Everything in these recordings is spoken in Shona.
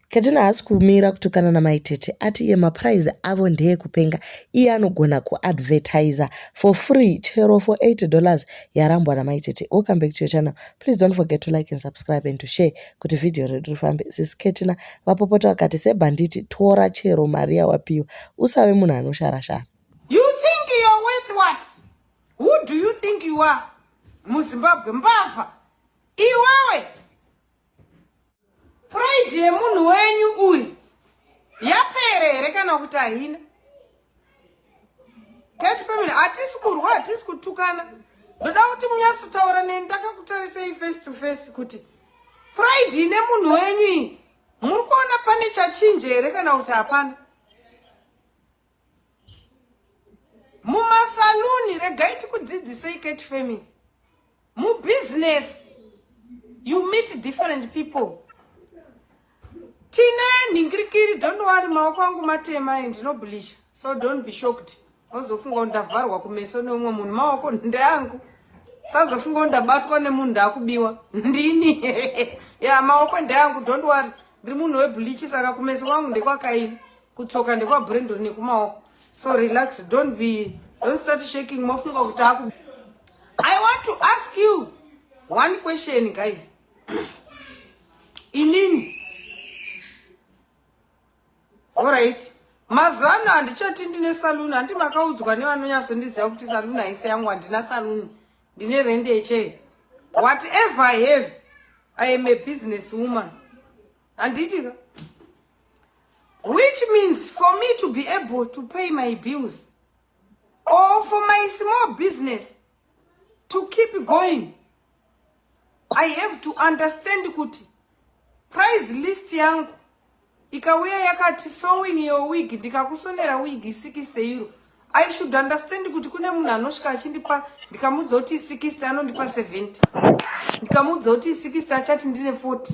Katina haasi kumira kutukana namai tete ati iye mapuraizi avo ndeekupenga iye anogona kuadvertiser for free chero for 8 dollars yarambwa namai tete welcome back to your channel please don't forget to like and subscribe and to share kuti vhidhiyo redu rifambe sisi katina vapopota vakati sebhanditi tora chero mari yawapiwa usave munhu anosharashara you think you're worth what who do you think you are muzimbabwe mbavha iwewe Pride yemunhu wenyu uyu yapere here kana kuti haina? Cat family hatisi kurwa hatisi kutukana. Ndoda kuti munyasotaura neni ndakakutarisei face to face kuti pride ine munhu wenyu iyi muri kuona pane chachinje here kana kuti hapana? mumasaluni regai tikudzidzisei ket family mubusiness you meet different people tine nhingirikiri don't worry maoko angu matema and ndinoblisha so don't be shocked ozofunga kuti ndavharwa kumeso neumwe munhu maoko ndeangu sazofunga kuti ndabatwa nemunhu ndakubiwa ndini ya maoko ndeangu don't worry ndiri munhu webhulichi saka kumeso kwangu ndekwakaini kutsoka ndekwa brendon nekumaoko so relax don't be don't start shaking mofunga kuti aku i want to ask you one question guys inini allright mazuva ano handichati ndine saluni handi makaudzwa nevanonyasondiziva kuti saluni haisi yangu handina saluni ndine rende yechee whatever i have i am a business woman handiti ka which means for me to be able to pay my bills or for my small business to keep going i have to understand kuti price list yangu ikauya yakati sowing your wig ndikakusonera wig isikiste euro i should understand kuti kune munhu anosvika achindipa ndikamuudza kuti isikiste anondipa 70 ndikamuudza kuti isikiste achati ndine 40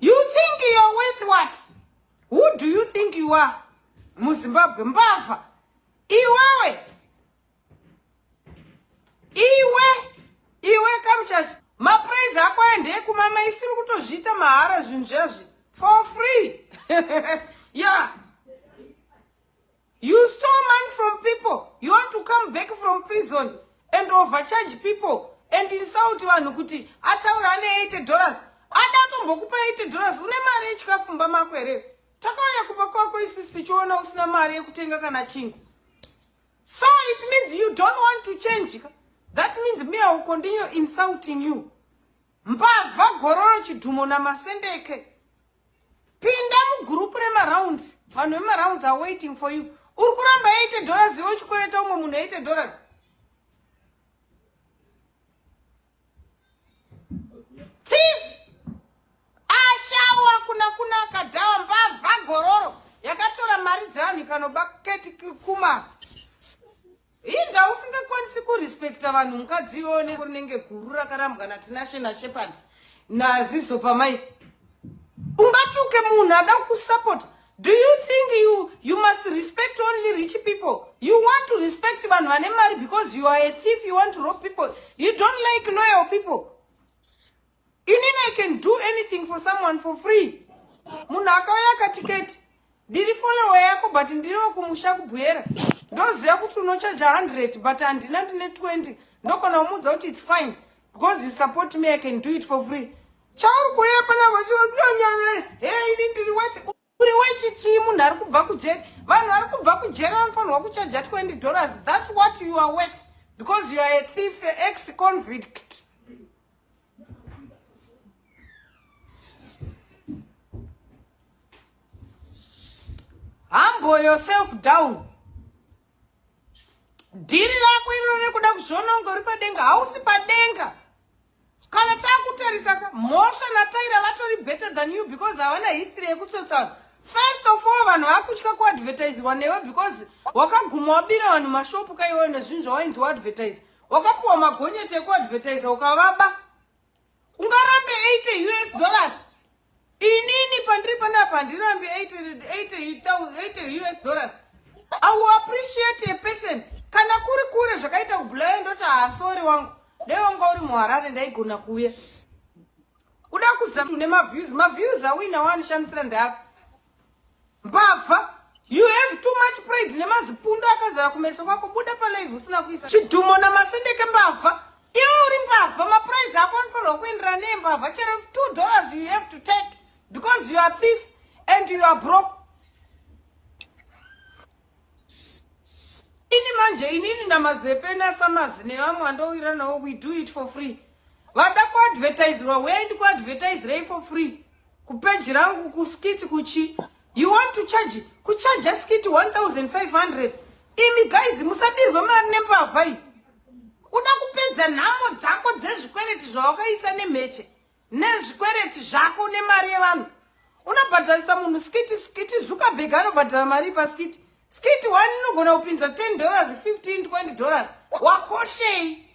You think you're worth what? Who do you think you are? MuZimbabwe mbavha. Iwewe. Iwe. Iwe kamuchachi. Mapraise ako ende kumama isiri kutozviita mahara zvinhu zvazvi. For free. yeah. You stole money from people. You want to come back from prison and overcharge people and insult vanhu kuti ataura ane 80 dollars. Ada atombokupa 80 dollars. Une mari yechikafumba mako here? Takauya kupa kwako isisi tichiona usina mari yekutenga kana chingu. So it means you don't want to change. That means me I will continue insulting you. Mbavha gororo chidhumo namasendeke. Pinda mugurupu remarounds. Vanhu vemarounds are waiting for you. Uri kuramba 80 dollars iwe uchikoreta umwe munhu 80 dollars. Thief! Ashawa kuna kuna akadhawa mbavha gororo yakatora mari dzevanhu ikanoba keti kuma. inda usingakwanisi kurespecta vanhu mukadzi iwewo neunenge guru rakarambwa natinashe nashepard nazizo pamai ungatuke munhu ada kusapota do you think you, you must respect only rich people you want to respect vanhu vane mari because you are a thief you want to rob people you don't like loyal people inini i can do anything for someone for free munhu akauya akatiketi ndiri follower yako but ndiri wekumusha kubwera ndoziva kuti unochaja 100 but handina ndine 20 ndokona kumuudza kuti its fine because you support me i can do it for free chauri kuuya panavo chinyanyare hey ini ndiri worth uri wechitsvii munhu ari kubva kujeri vanhu vari kubva kujeri vanofanirwa kuchaja 20 dollars thats what you are worth because you are a thief ex convict humble yourself down dhiri rako iro riri kuda kuzviononga uri padenga hausi padenga kana takutarisa ka mhosva nataira vatori better than you because havana history yekutsotsana first of all vanhu vakutya kuadvertisirwa newe because wakaguma wabira vanhu mashopu kaiweyo nezvinhu zvawainzi waadvertise wakapuwa magonyeti ekuadvertisa ukavaba ungarambe 80 us dollars inini pandiri panapa handirambi 80 us dollars i will appreciate a person kana kuri kure zvakaita kubulaya ndoti haasori ah, wangu dai wanga uri muharare ndaigona kuuya kuda kuzatu nemaviews maviews awina waanishamisira ndapa mbavha you have too much pride nemazipundo akazara kumeso kwako buda palive usina kuisa chidhumo namasendeke mbavha iwe uri mbavha maprize ako anofanirwa kuendera nembavha chero two dollars you have to take because you are thief and you are broke ini manje inini namazepe nasamazi nevamwe andowiranawo we do it for free vada kuadvertiserwa wendi kuadvertiserei for free Kupeji rangu kuskiti kuchi. You want to charge kuchaja skiti 1500. Imi guys musabirwe mari nembavha iyi. Uda kupedza nhamo dzako dzezvikwereti zvawakaisa nemheche nezvikwereti zvako nemari yevanhu. Unobhadharisa munhu skiti skiti Zuckerberg anobhadhara mari paskiti. Skiti one inogona kupinza 10 dollars, 15, 20 dollars. Wakoshei?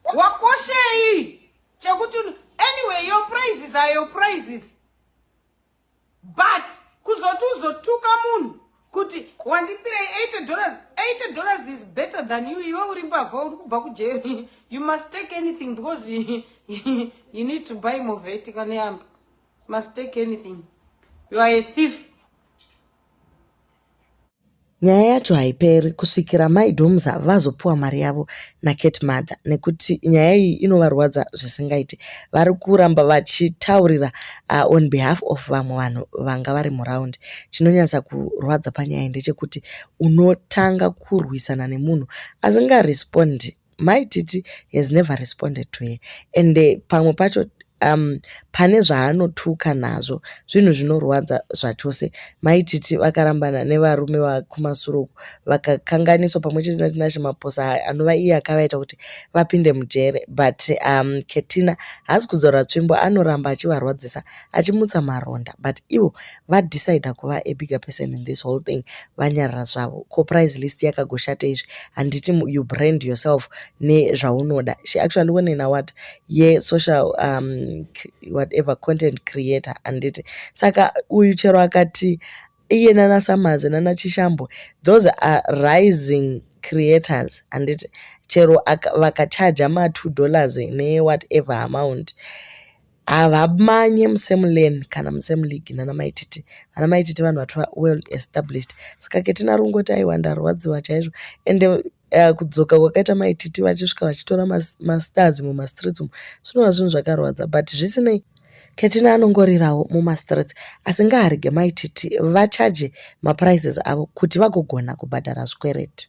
wakoshei chekuti anyway your praises are your praises but kuzoti uzotuka munhu kuti wandipirei 80 dollars 80 dollars is better than you iwe uri mbavha uri kubva kujeri you must take anything because you need to buy moveti kaneyamba must take anything you are a thief Nyaya yacho haiperi kusvikira mai Domusa vazopiwa mari yavo naCat Mother nekuti nyaya iyi inovarwadza zvisingaite. Vari kuramba vachitaurira uh, on behalf of vamwe vanhu vanga vari muraundi. Chinonyatsa kurwadza panyaya iyi ndechekuti unotanga kurwisana nemunhu asingarespondi Mai Titi has never responded to her and pamwe pacho um, pane zvaanotuka nazvo zvinhu zvinorwadza zvachose mai Titi vakarambana nevarume vakumasuro uku vakakanganiswa pamwe chete natinashe maposa anova iye akavaita kuti vapinde mujere but um, ketina haasi kudzora tsvimbo anoramba achivarwadzisa achimutsa maronda but ivo vadecider kuva a bigger person in this whole thing vanyarara zvavo ko price list yakagoshata izvi handiti you brand yourself nezvaunoda she actually won an award yesocial um, whatever content creator handiti saka uyu chero akati iye nana samazi nana chishambo those are rising creators handiti chero vakachaja ma2 dollars newhatever amount havamanye musame lane kana musame league nana maititi vana maititi vanhu vati well established saka ketina rungoti aiwa ndarwadziwa chaizvo ende uh, kudzoka kwakaita maititi vachisvika vachitora mastars mumastreets umu zvinova zvinhu zvakarwadza but zvisinei ketina anongorirawo mumastreets asi ngaarege maititi vachaje maprices avo kuti vagogona kubhadhara zvikwereti